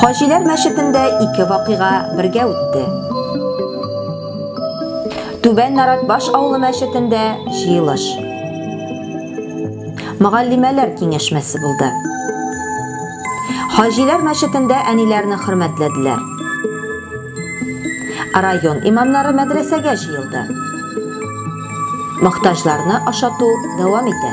Хаҗиләр мәчетендә ике вакыйга бергә үтте. Түбән Наратбаш авылы мәчетендә җыелыш. Мөгаллимәләр киңәшмәсе булды. Хаҗиләр мәчетендә әниләрне хөрмәтләделәр. Район имамнары мәдрәсәгә җыелды. Мохтаҗларны ашату дәвам итә.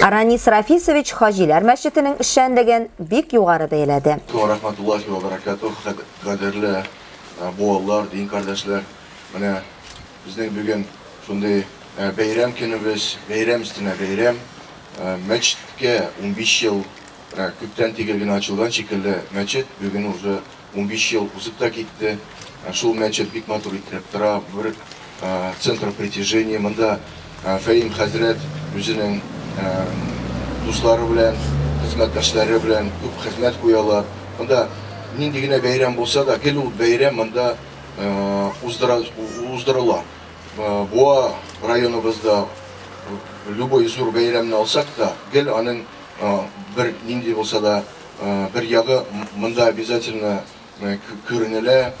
Ранис Рафисович Хаҗиләр мәчетенең эшчәнлеген бик югары бәяләде. Ва рахматуллахи ва баракатух, кадерле буалар, дин кардәшләр. Менә безнең бүген шундый бәйрәм көнебез, бәйрәм өстенә бәйрәм. Мәчеткә унбиш ел күптән тигел генә ачылган шикелле мәчет бүген уже Унбиш ел узып та китте. Шул мәчет бик матур иттереп тора. Бер центр притяжения. Монда Фәим хәзрәт үзенең дуслары белән, хезмәттәшләре белән күп хезмәт куялар. Монда нинди генә бәйрәм булса да, гел ул бәйрәм монда уздырыла. Буа районыбызда любой зур бәйрәмне алсак та, гел аның бер нинди булса да, бер ягы монда обязательно күренелә,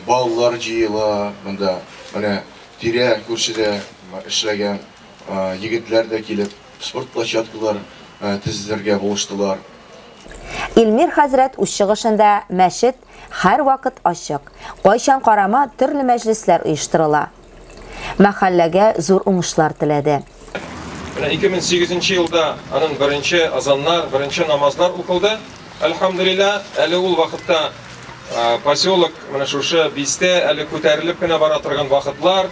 балалар җыела монда, менә тирә күршедә эшләгән егетләр дә килеп спорт площадкалар тезелергә булыштылар. Илмир хәзрәт үз чыгышында мәчет һәрвакыт ачык, кайчан карама төрле мәҗлесләр оештырыла, мәхәлләгә зур уңышлар теләде. Менә 2008 нче елда аның беренче азаннар, беренче намазлар укылды, әлхәмдүлилләһ. Әле ул вакытта поселок, менә шушы бистә әле күтәрелеп кенә бара торган вакытлар.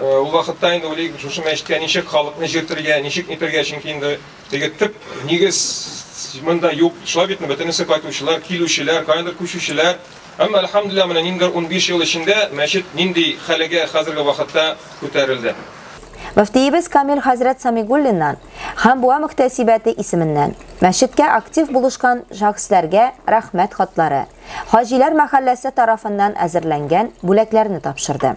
Ул вакытта инде уйлыйк, шушы мәчеткә ничек халыкны җиртергә, ничек нитергә, чөнки инде теге төп нигез монда юк. Шулай бит, бөтенесе кайтучылар, килүчеләр, каяндыр күчүчеләр. Әмма, әлхәмдүлилләһ, менә ниндидер унбиш ел эчендә мәчет нинди хәлегә хәзерге вакытта күтәрелде? Мөфтиебез Камил хәзрәт Самигуллиннан һәм Буа мөхтәсибәте исеменнән мәчеткә актив булышкан шәхесләргә рәхмәт хатлары, Хаҗиләр мәхәлләсе тарафыннан әзерләнгән бүләкләрне тапшырды.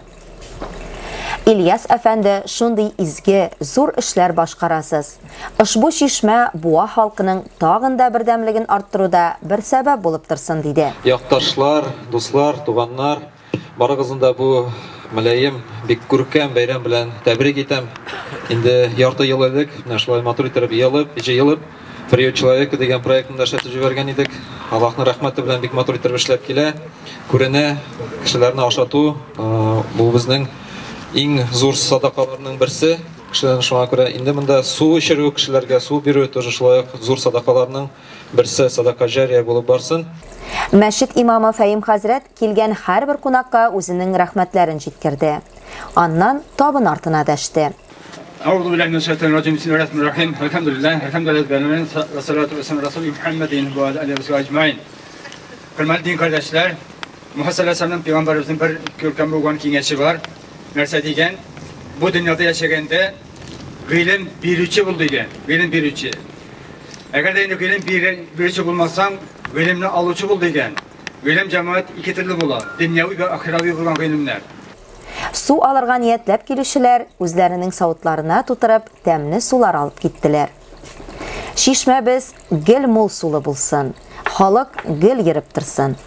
Ильяс әфәнде, шундый изге, зур эшләр башкарасыз. Ошбу чишмә Буа халкының тагын да бердәмлеген арттыруда бер сәбәп булып торсын, диде. Якташлар, дуслар, туганнар, барыгызны да бу мөлаем, бик күркәм бәйрәм белән тәбрик итәм. Инде ярты ел элек, менә шулай матур иттереп елып, җыелып, Приют человека дигән проектны да эшләтеп җибәргән идек. Аллаһның рәхмәте белән бик матур итеп эшләп килә. Күренә, кешеләрне ашату бу безнең иң зур садакаларның берсе. Кешеләрне шуңа күрә инде монда су эчерү, кешеләргә су бирү тоже шулай ук зур садакаларның берсе, садака җария булып барсын. Мәчет имамы Фәим хәзрәт Килгән һәрбер кунакка үзенең рәхмәтләрен җиткерде. Аннан табын артына дәште. Әгъузубиллаһи минәш шәйтанир раҗим. Бисмиллаһир рахманир рахим. Әлхәмдүлиллаһи һәмдә рәббил галәмин. Ва салату ва салам расул Мухаммадин ва аля алиһи ва сахбихи аҗмаин. Хөрмәтле дин кардәшләр, Муһа салләсәләм пәйгамбәребезнең бер күркәм булган киңәше бар. Нәрсә дигән? Бу дөньяда яшәгәндә гыйлем бирүче бул дигән. Гыйлем бирүче. Әгәр дә инде гыйлем бирүче булмасаң, гыйлемне алучы бул дигән. Гыйлем җәмәгать ике төрле була, дөньяви вә ахирави булган гыйлемнәр. Су алырга ниятләп килүчеләр, үзләренең савытларына тутырып, тәмле сулар алып киттеләр. Чишмәбез гел мул сулы булсын, халык гел йөреп торсын.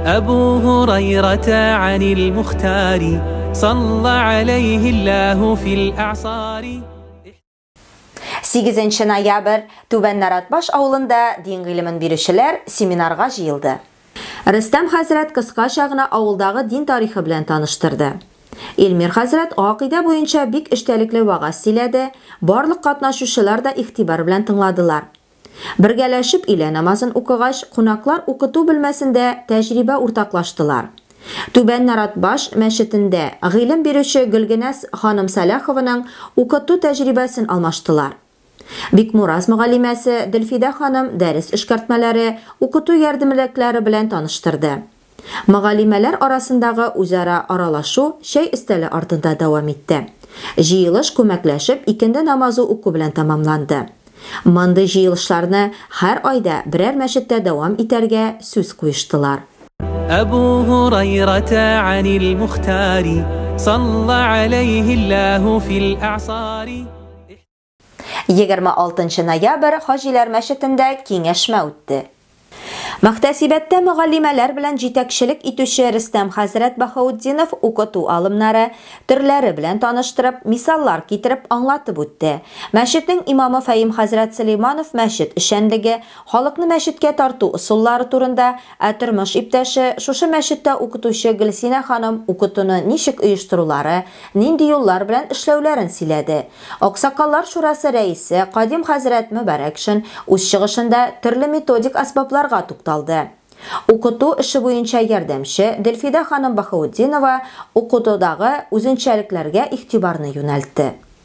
Әбу Гурайрата анил Мухтари, салла алейһи Аллаһу фил аъсари. Сигезенче ноябрь Түбән Наратбаш авылында дин гыйлемен бирүчеләр семинарга җыелды. Рөстәм хәзрәт кыскача гына авылдагы дин тарихы белән таныштырды. Илмир хәзрәт гакыйдә буенча бик эчтәлекле вәгазь сөйләде, барлык катнашучылар да игътибар белән тыңладылар. Бергәләшеп өйлә намазын укыгач, кунаклар укыту бүлмәсендә тәҗрибә уртаклаштылар. Түбән Наратбаш мәчетендә гыйлем бирүче Гөлгенәс ханым Сәлахованың укыту тәҗрибәсен алмаштылар. Бикмураз мөгаллимәсе Делфидә ханым дәрес эшкәртмәләре, укыту ярдәмлекләре белән таныштырды. Мөгаллимәләр арасындагы үзара аралашу чәй өстәле артында дәвам итте. Җыелыш күмәкләшеп икенде намазы уку белән тәмамланды. Мондый җыелышларны һәр айда берәр мәчеттә дәвам итәргә сүз куештылар. Әбү Һурайрата Анил Мухтари салла аләйһи Ллаһу фил әгъсари. 26 нчы ноябрь Хаҗиләр мәчетендә киңәшмә үтте. Мөхтәсибәттә мөгаллимәләр белән җитәкчелек итүче Рөстәм хәзрәт Баһаутдинов укыту алымнары, төрләре белән таныштырып, мисаллар китереп аңлатып үтте. Мәчетнең имамы Фәим хәзрәт Сөләйманов мәчет эшчәнлеге, халыкны мәчеткә тарту ысуллары турында, Ә тормыш иптәше, шушы мәчеттә укытучы Гөлсинә ханым укытуны ничек оештырулары, нинди юллар белән эшләүләрен сөйләде. Аксакаллар шурасы рәисе Кадим хәзрәт Мөбарәкшин үз чыгышында төрле методик әсбапларга тукталды. Укыту эше буенча ярдәмче Дөлфидә ханым Баһаутдинова укытудагы үзенчәлекләргә игътибарны юнәлтте.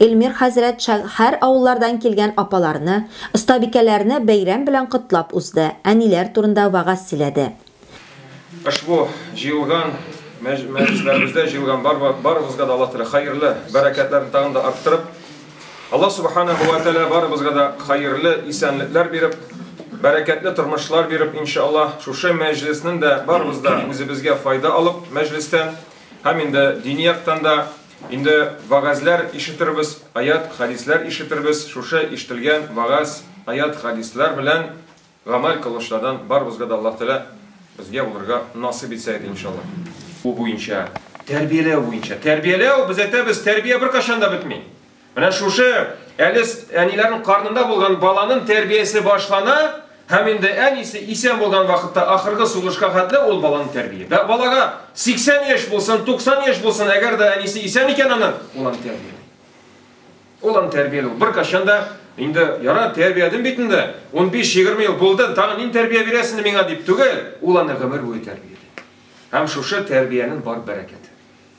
Эльмир хәзрәт шә һәр авыллардан килгән апаларны, остабикәләрне бәйрәм белән котлап узды, әниләр турында вәгазь сөйләде. Ошбу җыелган мәҗ мәҗлесләребездә җыелган бар барыбызга да Аллаһ Тәгалә хәерле бәрәкәтләрен тагын да арттырып, Аллаһ Субханаһу вә тәгалә барыбызга да хәерле исәнлекләр биреп, бәрәкәтле тормышлар биреп, иншаАллаһ, шушы мәҗлеснен дә барыбыз да үзебезгә файда алып мәҗлестән һәм инде дини яктан да, Инде вәгазьләр ишетербез, аят, хәдисләр ишетербез, шушы ишетелгән вәгазь, аят, хәдисләр белән гамәл кылучылардан барыбызга да Аллаһ Тәгалә безгә булырга насыйп итсә иде, иншаллаһ. Бу буенча, тәрбияләү буенча. Тәрбияләү, без әйтәбез, тәрбия беркайчан да бетми. Менә шушы әле әниләрнең карнында булган баланын тәрбиясе башлана һәм инде әнисе исән булган вакытта ахыргы сулышка хәтле ул баланы тәрбия. Бә балага 80 яшь булсын, 90 яшь булсын, әгәр дә әнисе исән икән аны, ул аны тәрбия. Ул аны тәрбия ул. Бер кашан да инде яра тәрбиядем бит инде. 15-20 ел булды, тагын нин тәрбия бирәсен миңа дип түгел, ул аны гомер буе тәрбия. Һәм шушы тәрбиянең бар бәрәкәте.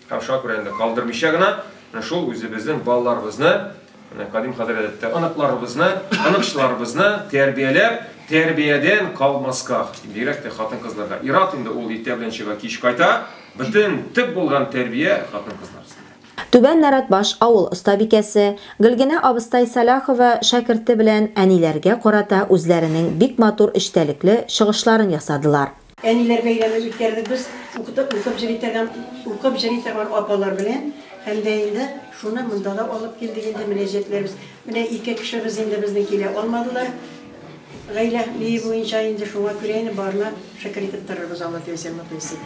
Һәм шуңа күрә инде калдырмыйча гына менә шул үзебезнең балаларыбызны, менә кадим хәзрәттә оныкларыбызны, оныкчыларыбызны тәрбияләп, тәрбиядән калмаска, бигрәк тә хатын-кызларга. Ират инде ул иртә белән чыга, кич кайта. Бөтен төп булган тәрбия хатын-кызлар өстендә. Түбән Нәрәтбаш авыл остабикәсе Гөлгенә абыстай Сәлахова шәкерте белән әниләргә карата үзләренең бик матур эчтәлекле чыгышларын ясадылар. Әниләр бәйрәмен үткәрдек без укытып укып җыри торган апалар белән һәм дә инде шуны монда да алып килдек инде мөнәҗәтләрбез. Менә ике кешебез инде безнең килә алмадылар. Гаилә бии буенча инде шуңа күрә инде барны шөкер итеп торырбыз Алла теләсә мөхлисин.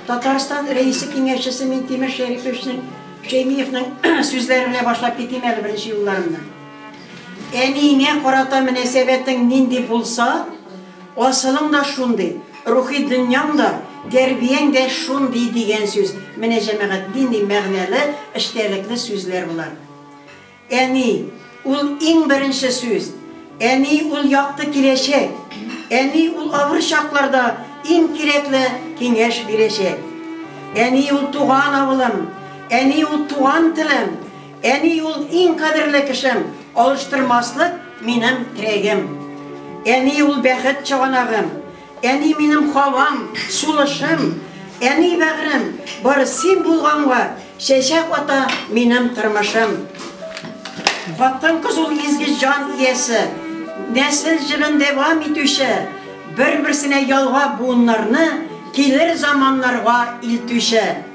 Татарстан рәисе киңәшчесе Минтимер Шәриповичның Шәймиевның сүзләре белән башлап китим әле беренче юлларымны. Әниеңә карата мөнәсәбәтең нинди булса, асылың да шундый, рухи дөньяң да, тәрбияң дә шундый, дигән сүз. Менә, җәмәгать, нинди мәгънәле, эчтәлекле сүзләр болар. Әни, ул иң беренче сүз. Әни, ул якты киләчәк. Әни, ул авыр чакларда иң кирәкле киңәш бирәчәк. Әни, ул туган авылым. Әни, ул туган телем. Әни ул иң кадерле кешем, Алыштырмаслык минем терәгем. Әни ул бәхет чыганагым, Әни минем һавам, сулышым. Әни бәгърем, бары син булганга, Чәчәк ата минем тормышым. Хатын-кыз ул изге җан иясе, Нәсел җырын дәвам итүче, Бер-берсенә ялгап буыннарны, Килер заманнарга илтүче.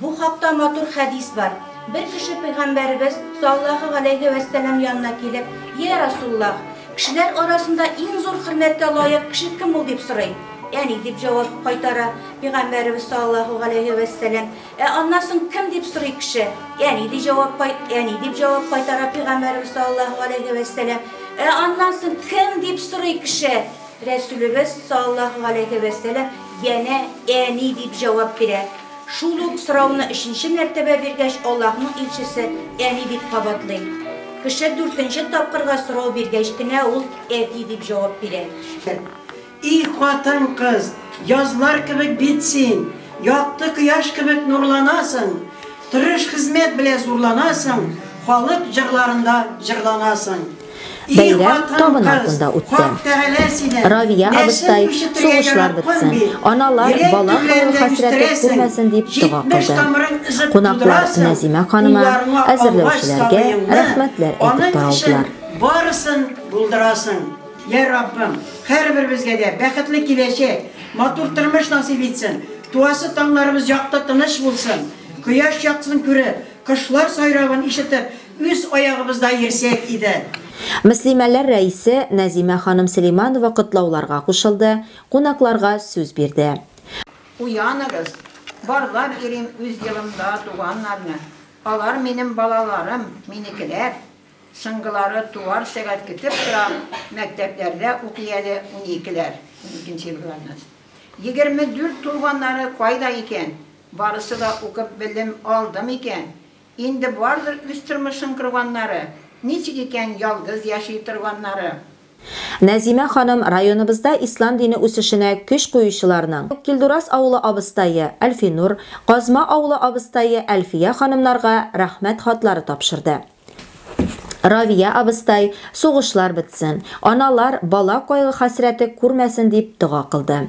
Бу хакта матур хәдис бар. Бер кеше пәйгамбәребез, саллаһу галәйһи вә сәлам, янына килеп, Йә Расуллаһ! Кешеләр арасында иң зур хөрмәткә лаек кеше кем ул? дип сорый. Әни, дип җавап кайтара пәйгамбәребез, саллаһу галәйһи вә сәлам. Ә аннан соң кем? дип сорый кеше. Әни, дип җавап кайт, әни, дип җавап кайтара пәйгамбәребез, саллаһу галәйһи вә сәлам. Ә аннан соң кем? дип сорый кеше. Рәсүлебез, саллаһу галәйһи вә сәлам, янә әни, дип җавап бирә. Шул ук сорауны өченче мәртәбә биргәч, Аллаһның илчесе, Әни, дип кабатлый. Кеше дүртенче тапкырга сорау биргәч кенә ул Әти дип җавап бирә. И хатын-кыз, язлар кебек бит син, якты кояш кебек нурланасың, тырыш хезмәт белә зурланасың, халык җырларында җырланасың. Бәйрәм табын артында үтте. Равия абыстай, сугышлар бетсен, аналар бала калу хәсрәте күрмәсен дип дога кылды. Кунаклар Нәзимә ханыма, әзерләүчеләргә рәхмәтләр әйтеп таралдылар. Барысын булдырасың, йә Раббым, һәрберебезгә дә бәхетле киләчәк, матур тормыш насыйп итсен, туасы таңнарыбыз якты, тыныч булсын, кояш яктысын күреп, кошлар сайравын ишетеп, Үз аягыбызда йөрсәк иде. Мөслимәләр рәисе Нәзимә ханым Сөләйманова котлауларга кушылды, кунакларга сүз бирде. Уяныгыз, барлап йөрим үз елымда туганнарны, алар минем балаларым, минекеләр. Соңгылары туар сәгать көтеп тора, мәктәпләрдә укый әле уникеләр, уникенче елгыларны. Егерме дүрт тулганнары кайда икән? Барысы да укып белем алды микән? Инде бардыр үз тормышын корганнары, Ничек икән ялгыз яши торганнары. Нәзимә ханым районыбызда ислам дине үсешенә көч куючыларның, Килдурас авылы абыстае Әлфинур, Казма авылы абыстае Әлфия ханымнарга рәхмәт хатлары тапшырды. Равия абыстай, сугышлар бетсен, аналар бала кайгы-хәсрәте күрмәсен дип дога кылды.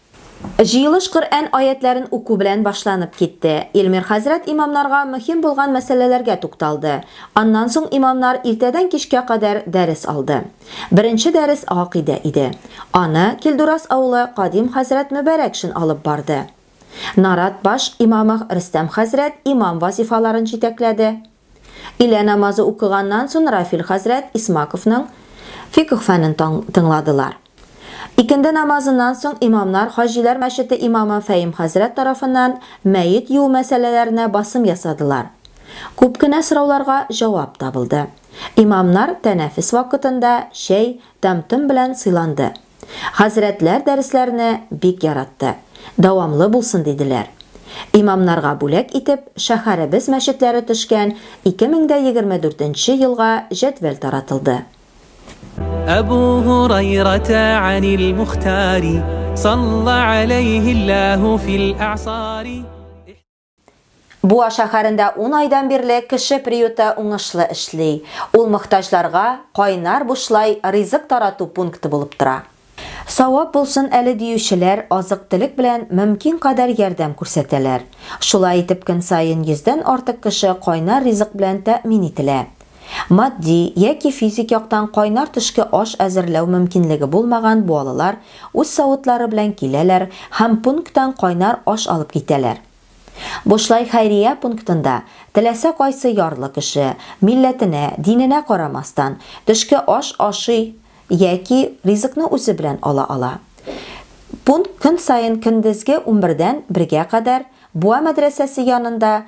Җыелыш Коръән аятьләрен уку белән башланып китте. Илмир хәзрәт имамнарга мөһим булган мәсьәләләргә тукталды. Аннан соң имамнар иртәдән кичкә кадәр дәрес алды. Беренче дәрес гакыйдә иде. Аны Килдурас авылы Кадим хәзрәт Мөбәрәкшин алып барды. Нарат баш имамы Рөстәм хәзрәт имам вазифаларын җитәкләде. Илә намазы укыганнан сон Рафил хәзрәт Исмаковның фикх фәнен тыңладылар. Икенде намазыннан соң имамнар Хаҗиләр мәчете имамы Фәим хәзрәт тарафыннан мәет юу мәсьәләләренә басым ясадылар. Күп кенә сорауларга җавап табылды. Имамнар тәнәфес вакытында чәй, тәм-том белән сыйланды. Хәзрәтләр дәресләрне бик яратты, дәвамлы булсын диделәр. Имамнарга бүләк итеп шәһәребез мәчетләре төшкән 2024 нче елга җәдвәл таратылды. Әбу Һурайрата анил Мухтари, салла аләйһи Аллаһу фил әгъсари. Буа шәһәрендә ун айдан бирле кеше приюты уңышлы эшли. Ул мохтаҗларга кайнар бушлай ризык тарату пункты булып тора. Савап булсын әле диючеләр азык-төлек белән мөмкин кадәр ярдәм күрсәтәләр. Шулай итеп көн саен йөздән артык кеше кайнар ризык белән тәэмин ителә. Матди яки физик яктан кайнар төшке аш әзерләү мөмкинлеге булмаган буалылар үз савытлары белән киләләр һәм пункттан кайнар аш алып китәләр. Бушлай хәйрия пунктында теләсә кайсы ярлы кеше, милләтенә, диненә карамастан, төшке аш ашый яки ризыкны үзе белән ала ала. Пункт көн саен көндезге унбердән бергә кадәр Буа мәдрәсәсе янында